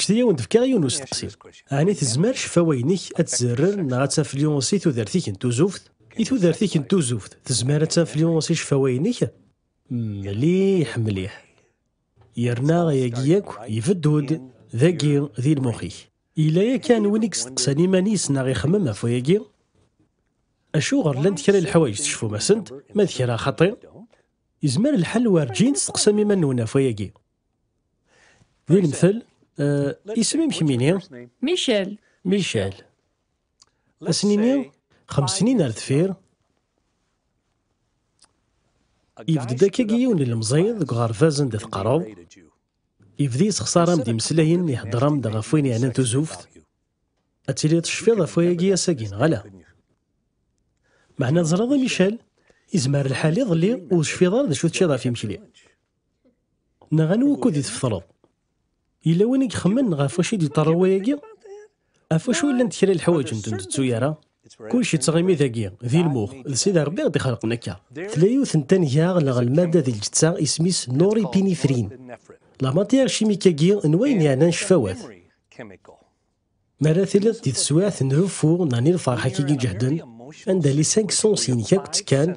Ǧdi awen d-fkiɣ yiwen usteqsi. Ɛni tezmer cfawa-inek ad tzerrer neɣ ad taflyunsi tudert-ik n tuzuft? I tudert-ik n tuzuft, tezmer ad taflyunsi cfawa-inek? Mliḥ mliḥ. Yerna ayagi yakk ibeddu-d dagi di lmux-ik. Yella yakan win i yesteqsan iman-is neɣ ixemmem ɣef wayagi? Acuɣer llant kra leḥwayeǧ tecfum-asent, ma d kra xaṭi? Yezmer lḥal werǧin testeqsam iman-nwen ɣef wayagi. D ilemtel, uh, isem-im kemini? Michel. Michel. Asnini, xems snin ar deffir, yebded akka gi yiwen ilemẓi deg uɣerbaz anda teqqareḍ, yebdi yessexṣar-am-d imeslayen ihedder-am-d ɣef wayen yeɛnan tuzuft, ad tiliḍ tecfiḍ ɣef wayagi ass-agi neɣ ala? Meɛna teẓriḍ a Michel, yezmer lḥal iḍelli ur tecfiḍ ara d acu teččiḍ ɣef imekli. Neɣ anwa ukud i teftereḍ? Yella win i ixemmen ɣef wacu i d-yeṭerra wayagi? Ɣef wacu i llant kra leḥwaǧ n d-nettu ara? Kullec yettɣimi dagi, di lmux, d Sidi Rebbi i d-ixelqen akka. Tella yiwet n tanga neɣ lmada di lǧetta isem-is noripinifrin, la matière chimique-agi n wayen yeɛnan cfawat. Mi ara tiliḍ di teswiɛt n reffu neɣ n lferḥ-agi ijehden, anda les cinq sens-inek akk ttekkan,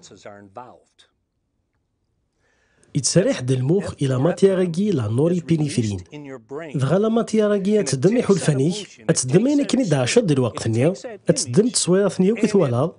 Yettserriḥ-d lmux i la matiyar-agi, la noripinifrin. Dɣa la matiyar-agi ad teddem iḥulfan-ik, ad teddem ayen akken i d-tɛaceḍ di lweqt-nni, ad teddem tteswirat-nni akk i twalaḍ,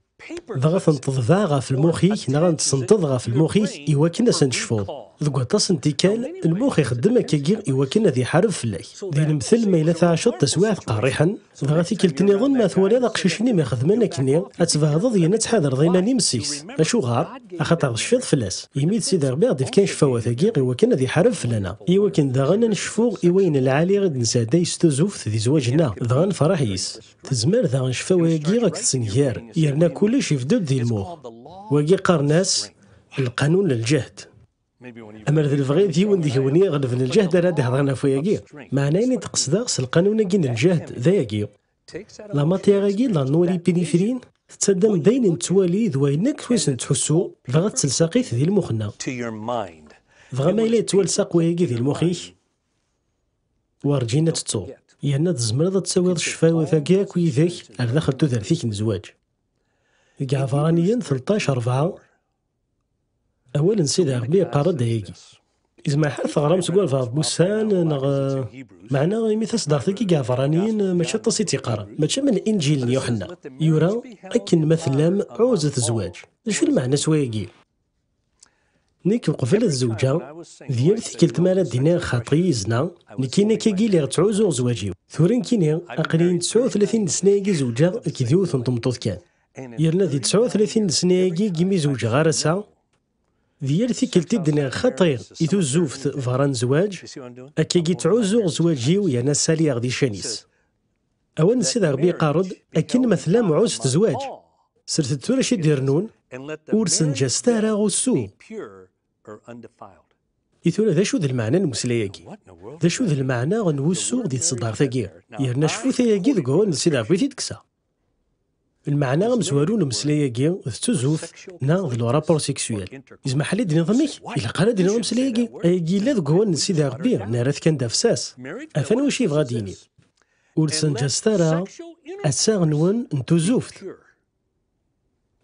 dɣa ad ten-teḍbeɛ ɣef lmux-ik neɣ ad ten-tessenteḍ ɣef lmux-ik i wakken ad sen-tecfuḍ. Deg waṭas n tikkal, lmux ixeddem akkagi i wakken ad iḥareb fell-ak. D inemtel ma yella tɛaceḍ taswiɛt qerriḥen, Dɣa tikkelt niḍen ma twaliḍ aqcic-nni mi xedmen akkenni, ad tbehdeḍ yen ad tḥadreḍ iman-im seg-s. Acuɣer? Axaṭer tecfiḍ fell-as. Imi d Sidi Ṛebbi i ɣ-d-ifkan cfawat-agi i wakken ad iḥareb fell-aneɣ. I wakken daɣen ad necfu i wayen lɛali i d-nesɛedday s tuzuft di zzwaǧ-nneɣ, dɣa nefreḥ yis. Tezmer daɣen cfawa-agi a k-tessenger, yerna kullec ibeddu-d di lmux. Wagi qqaren-as, lqanun n lǧehd. Amer d lebɣi d yiwen deg-wen i iɣelben lǧehd ara d-ihedren ɣef wayagi. Meɛna ayen i d-qesdeɣ s lqanun-agi n lǧehd d ayagi. La matière-agi, la nourrit pénithrine, tettaddam d ayen nettwali d wayen akk i s-nettḥussu, dɣa tettlsaq-it di lmux-nneɣ. Dɣa ma yella yettwalsaq wayagi di lmux-ik, werǧin ad tettuḍ. Yerna tzemreḍ ad tawiḍ ccfawat-agi akk yid-k ar daxel tudert-ik n zzwaǧ. Deg Iɛebraniyen tlṭac rebɛa, Awal n Sidi Rebbi yeqqar-d ayagi. Izmer ḥar teɣram seg walbaɛḍ n wussan neɣ meɛna imi tasdaɣt-agi iɛebraniyen mačči aṭas i tt-iqqaren, mačči am Linǧil n Yuḥenna. Yura, Akken ma tellam, ɛuzzet zzwaǧ. D acu i lmeɛna s wayagi? Nekk uqbel ad zewǧeɣ, d yal tikkelt mi ara d-iniɣ xaṭi yezna, nekkini akkagi lliɣ ttɛuzzuɣ zzwaǧ-iw. Tura nekkini, aql-iyi nesɛu tlatin n ssna-agi zewǧeɣ akked yiwet n tmeṭṭut kan. Yerna di tesɛu tlatin d sniyagi i mi zewǧeɣ ar ass-a, d yal tikkelt i d-nniɣ xaṭi i tuzzuft berra n zzwaǧ, akkagi ttɛuzzuɣ zzwaǧ-iw yerna ssaliɣ di ccan-is. Awal n Sidi Ṛebbi iqqar-d, akken ma tellam ɛuset zzwaǧ, slet-d tura acu i d-irennun, ur ssenǧaset ara usu. I tura d acu d lmeɛna n umeslay-agi? D acu d lmeɛna n wusu di tseddart-agi? Yerna cfut ayagi deg wawal n Sidi Ṛebbi i t-id-kkseɣ. Lmeɛna amezwaru n umeslay-agi d tuzut neɣ d lurapur siksyal. Yezmaḥal i d-tiniḍ amek? Ilaq ara d-tiniḍ ameslay-agi? Ayagi yella deg wawal n Sidi Ṛebbi, nerra-t kan d afessas. Atan wacu i yebɣa ad d-yini. Ur ssenǧaset ara assaɣ-nwen n tuzuft.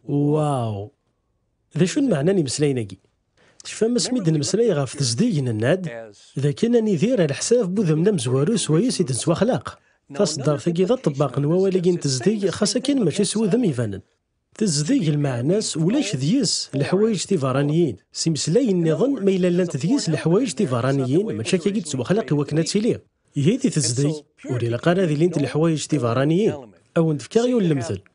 Waw! D acu n lmeɛna n yimeslayen-agi? Tecfam asmi d-nemmeslay ɣef tezdeg, nenna-d d akken ad nidir ar leḥsab n udem d amezwaru s wayes i d-nettwaxlaq. Taṣeddart-agi d aṭebbaq n wawal-agi n tezdeg, xas akken mačči s wudem ibanen. Tezdeg, lmeɛna-s, ulac deg-s leḥwayeǧ tiberraniyin. S imeslayen nniḍen, ma yella llant deg-s leḥwayeǧ tiberraniyin, mačči akka i d-tettwaxlaq i wakken ad tili. Ihi di tezdeg, ur ilaq ara ad ilint leḥwayeǧ tiberraniyin. Ad wen-d-fkeɣ yiwen n lemtel.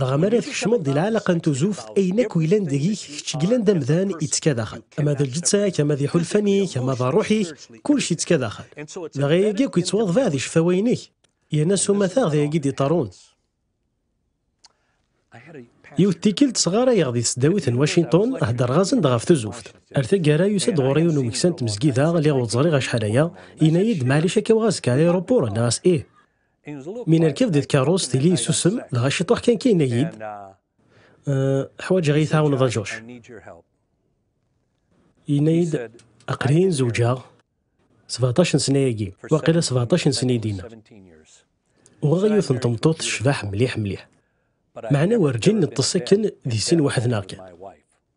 Dɣa mi ara tkecmeḍ di lɛalaqa n tuzuft, ayen akk yellan deg-k, kečč glan d amdan, yettekka daxel. Ama d lǧetta-k, ama d iḥulfan-ik, ama d rruḥ-ik, kullec yettekka daxel. Dɣa ayagi akk yettwaḍbaɛ di cfawayen-ik, yerna s umata d ayagi d-iṭarun. Yiwet tikkelt sɣarayeɣ di tesdawit n Washington, heddreɣ-asen-d ɣef tuzuft. Ar taggara, yusa-d ɣur-i yiwen umeksa n tmezgida, lliɣ ur ẓriɣ acḥal aya, yenna-yi-d, Maɛlic a k-awiɣ azekka ar aeroport? Nniɣ-as, Ih. Mi nerkeb di tkeṛṛust tili yessusem, dɣa ciṭuḥ kan kan yenna-yi-d, Ḥwaǧeɣ iyi-tɛawneḍ a Josh. Yenna-yi-d, Aql-iyi zewǧeɣ sebɛṭac n ssna-agi, waqila sebɛṭac n ssna i d-yenna. Uɣeɣ yiwet n tmeṭṭut tecbeḥ mliḥ mliḥ. Meɛna werǧin neṭṭes akken di sin weḥd-neɣ kan.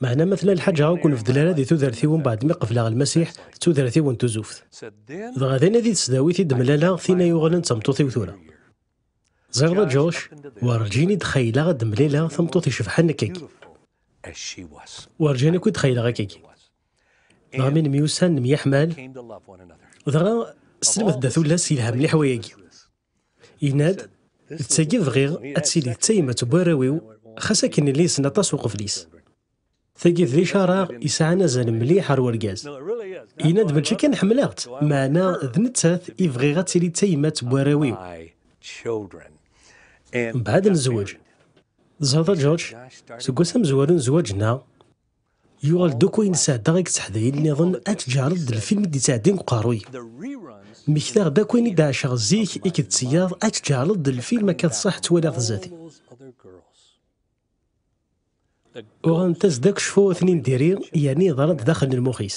Meɛna ma tella lḥaǧa ur k-nbeddel ara di tudert-iw mbeɛd mi qebleɣ Lmasiḥ d tudert-iw n tuzuft. Dɣa d anadi d tesdawit i d-mlaleɣ tin ay yuɣalen d tameṭṭut-iw tura. Teẓriḍ a Josh, werǧin i d-xayleɣ ad d-mlileɣ tameṭṭut icebḥen nekkagi. Werǧin akk i d-xayleɣ akkagi. Dɣa mi nemyussan nemyeḥmal, dɣa sselmed-d a tullas yelha mliḥ wayagi. Yenna-d, d tagi bɣiɣ ad tili d tayemmat n warraw-iw, xas akken ilisen aṭas uqbel-is. Tagi d licaṛaɣ yesɛan azal mliḥ ar urgaz. Yenna-d mačči kan ḥemmleɣ-tt, meɛna d nettat i bɣiɣ ad tili d tayemmat n warraw-iw. Mbaɛd nezweǧ. Zahra George, Seg wass amezwaru n zzwaǧ-nneɣ, Yuɣal deg wayen sɛedda i yettḥadayen nniḍen ad tǧared d lfilm i d-yettɛeddin deg uqerruy. Mmektaɣ-d akk ayen i d-ɛaceɣ zik i k d tiyaḍ ad tǧared d lfilm akka d ṣaḥ ttwaliɣ-t zati. Uɣent-as-d akk cfawat-nni n diri yerni yeḍra-d daxel n lmux-is.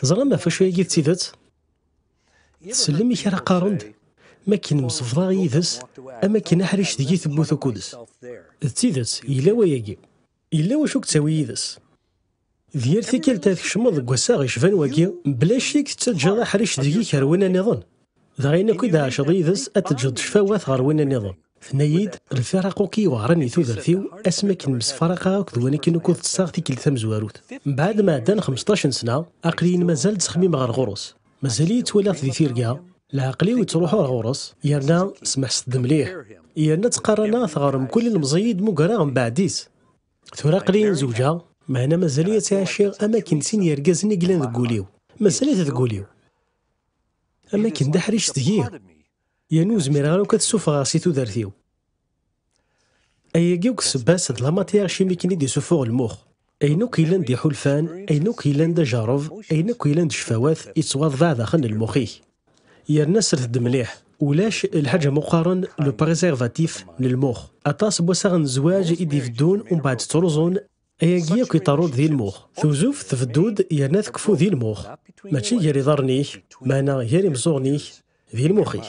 Teẓram ɣef wacu agi d tidet? Tsellem i kra qqaren-d? Ma akken msebḍaɣ yid-s, am akken aḥric deg-i temmut ukud-s. D tidet, yella wayagi. Yella wacu yettawi yid-s. D yir tikkelt ad tkecmeḍ deg wassaɣ yecban wagi, mebla ccek tettaǧǧaḍ aḥric deg-k ar winna niḍen. Dɣa ayen akk i d ɛaceḍ yid-s ad teǧǧeḍ cfawat ɣer wina nniḍen. Tenna-yi-d, lfiraq akk i iweɛren i tudert iw, asmi akken msefraqeɣ akk d win akken ukud ttesseɣ tikelt tamezwarut. Mbaɛd ma ɛeddan xmesṭac n sna, aql-iyin mazal ttxemmimeɣ ɣer ɣur-s. Mazal-iyi ttwaliɣ-t di tirga, leɛqel-iw ittruḥu ɣer ɣur-s, yerna smeḥset-d mliḥ, yerna ttqarraneɣ-t ɣer mkul ilemẓi i d-mugreɣ mbaɛd-is. Tura aql-iyin zewǧeɣ, meɛna mazal-iyi ttɛiciɣ am akken sin yergazen i yellan deg wul-iw. Mazal-it deg wul-iw. Am akken d aḥric deg-i, yernu ur zmireɣ ara akk ad ssufɣeɣ si tudert-iw. Ayagi akk sebba-s d lamatière chimique i d-isufuɣ lmux. Ayen akk yellan d iḥulfan, ayen akk yellan d ajerreb, ayen akk yellan d cfawat, yettwaḍbaɛ daxel n lmux-ik. Yerna sret-d mliḥ, ulac, lḥaǧa muqqaren, le préservatif, n lmux. Aṭas n wassaɣen n zzwaǧ i d-ibeddun umbeɛd ttruẓun, Ayagi akk iṭarru-d di lmux. Tuzuft tbeddu-d yerna tekfu di lmux. Mačči gar iḍarren-ik, meɛna gar imeẓẓuɣen-ik, di lmux-ik.